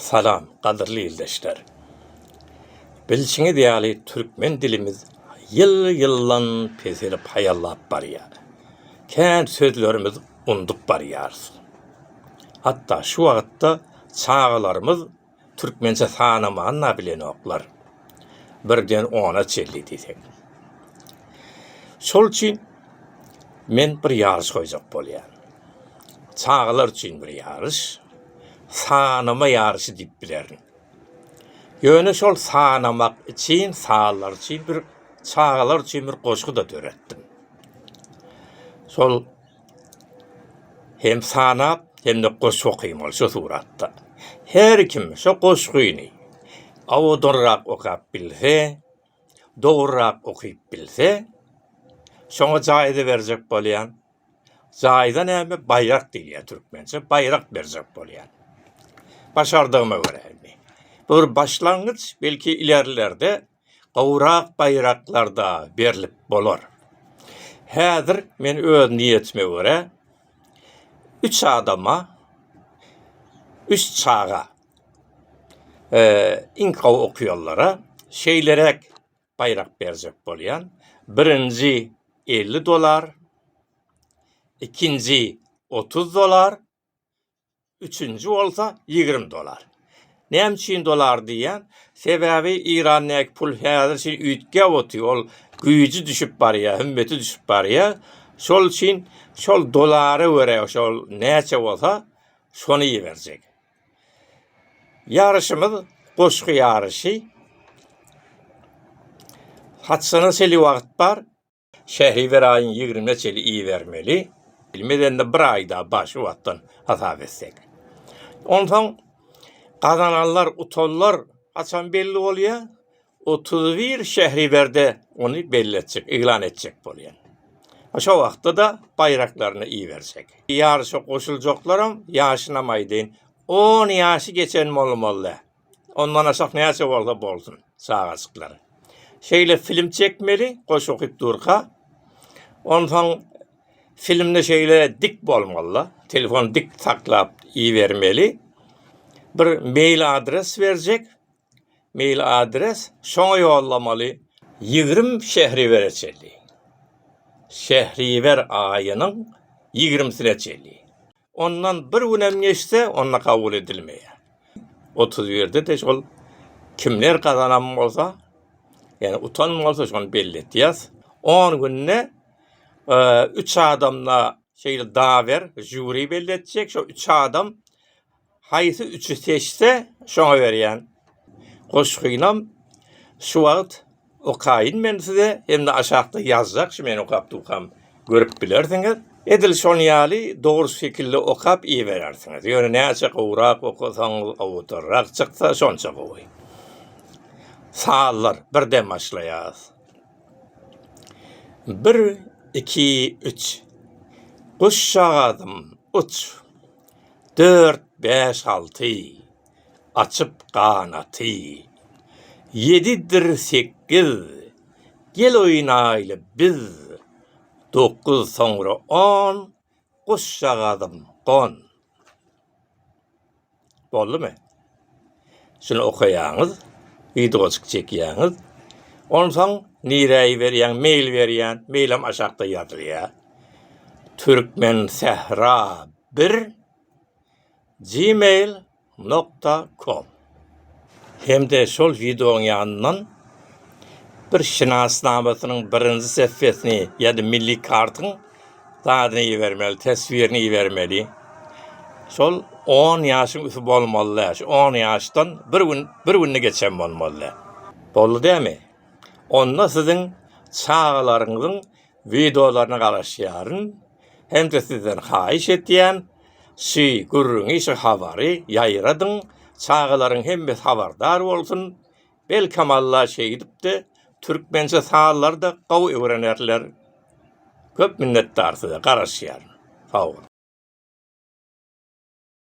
Salam, gadyrly ildeşler! Bilşiňiz ýaly, türkmen dilimiz ýyl-ýyldan peselip haýallap barýar. Kän sözlerimizi undup barýarys. Hatda şu wagtda çagalarymyz türkmençe sanaman-da bilenoklar. birden ona çenli diýseň. Şol üçin men bir ýaryş goýjak bolýan. Çagalar üçin bir ýaryş, sanama ýaryşy diýip bilerin. Ýöne şol sanamak üçin, sanlar üçin bir çagalar üçin bir goşgy-da döretdim. Şol hem sanap hem-de goşgy okymaly şu suratda. Her kim şu goşgyny owadanrak okap bilse, dogrurak okyp bilse, şoňa jaýza berjek bolýan. Jaýza näme? Baýrak diýilýär türkmençe. Baýrak berjek bolýan. Başardygyma görä indi. Bu bir başlangyç, belki ilerlerde gowrak baýraklarda berlip bolar. Häzir men öz niýetime görä üç adama üç çaga iň gowy okýanlara şeýleräk baýrak berjek bolýan. Birinji elli dollar, ikinji otuz dollar, üçünji bolsa ýigrimi dolar. Näme üçin dolar diýýän? Sebäbi Irandäki pul häzir üçin üýtgäp otyr, ol güýji düşüp barýar, hümmeti düşüp barýar. Şol üçin şol dolara görä şol näçe bolsa şony iberjek. Ýaryşymyz goşgy ýaryşy. Haçana şeýle wagt bar? Şähriwer aýyň ýigrimine çenli ibermeli. Bilmedende bir aýda bar şu wagtdan hasap etsek. Onsoň gazananlar, utanlar haçan belli bolýa? Otuz bir Şähriwerde ony belli etjek, yglan etjek bolýan. Şo wagtda-da baýraklaryny iberjek. Ýaryşa goşuljaklar hem ýaşynam aýdaýyn, on ýaşy geçen bolmaly. Ondan aşak näçe bolsa bolsun çagajyklar. Şeýle film çekmeli goşy okyp durka. Onsoň filmde şeýle dik bolmalyda. Telefon dik saklap ibermeli. Bir mail adres berjek. Mail adres şoňa ýollamaly. Ýigrim şehriwere çenli. Şehriwer aýynyň ýigrimsine çenli. Ondan bir günem geçse, onda kabul edilmeýär. Otuz birde-de şol kimler gazanan bolsa, ýagny utan bolsa, şony belli edýäs. On günde üç adamda şeýle daber, žýuri belli etjek. Şo üç adam Haýsy üçi seçse, şoňa berýän. Goşgynam şu wagt okaýyn men size, hem-de aşakda ýazjak, şu men okapdykam görüp bilersiňiz. Edil şon ýaly dogry şekilde okap iberersiňiz. Ýöne näçe gowrak okasaňyz, awtorrak çyksa, şonça gowy. Sazlar, birden başlaýarys. Bir, iki, üç. Guşjagazym, uç. Dört, bäş, alty, açyp ganaty. Ýedidir sekiz, gel oýnaýly biz. Dokuz, soňra on, guşjagazym gon. Boldumy? Şuny okaýaňyz, wideoçyk çekýäňiz. Onsoň nirä iberýäň, mail berýän, mailam aşakda ýazylýar. Türkmen sähra 1 gmail nokta kom. Hem-de şol wideoň ýanyndan bir şinasnamasynyň birinji sehfesini ýa-da milli kartyň zadyny ibermeli, teswirini ibermeli. Şol on ýaşyň üsti bolmaly däl. Şu on ýaşdan bir gün, bir günde geçen bolmaly däl. Boldy dämi? Onda siziň çagalaryňyzyň wideolaryna garaşýaryn hem-de sizden haýyş etýän, şy gürrüňi, şy habary ýaýradyň, çagalaryň hemmesi habardar bolsun, Belkem Alla şeýdipdi Türkmençe sazlarda gowy öwrenerler köp minnetdar size garaşýaryn sag boluň.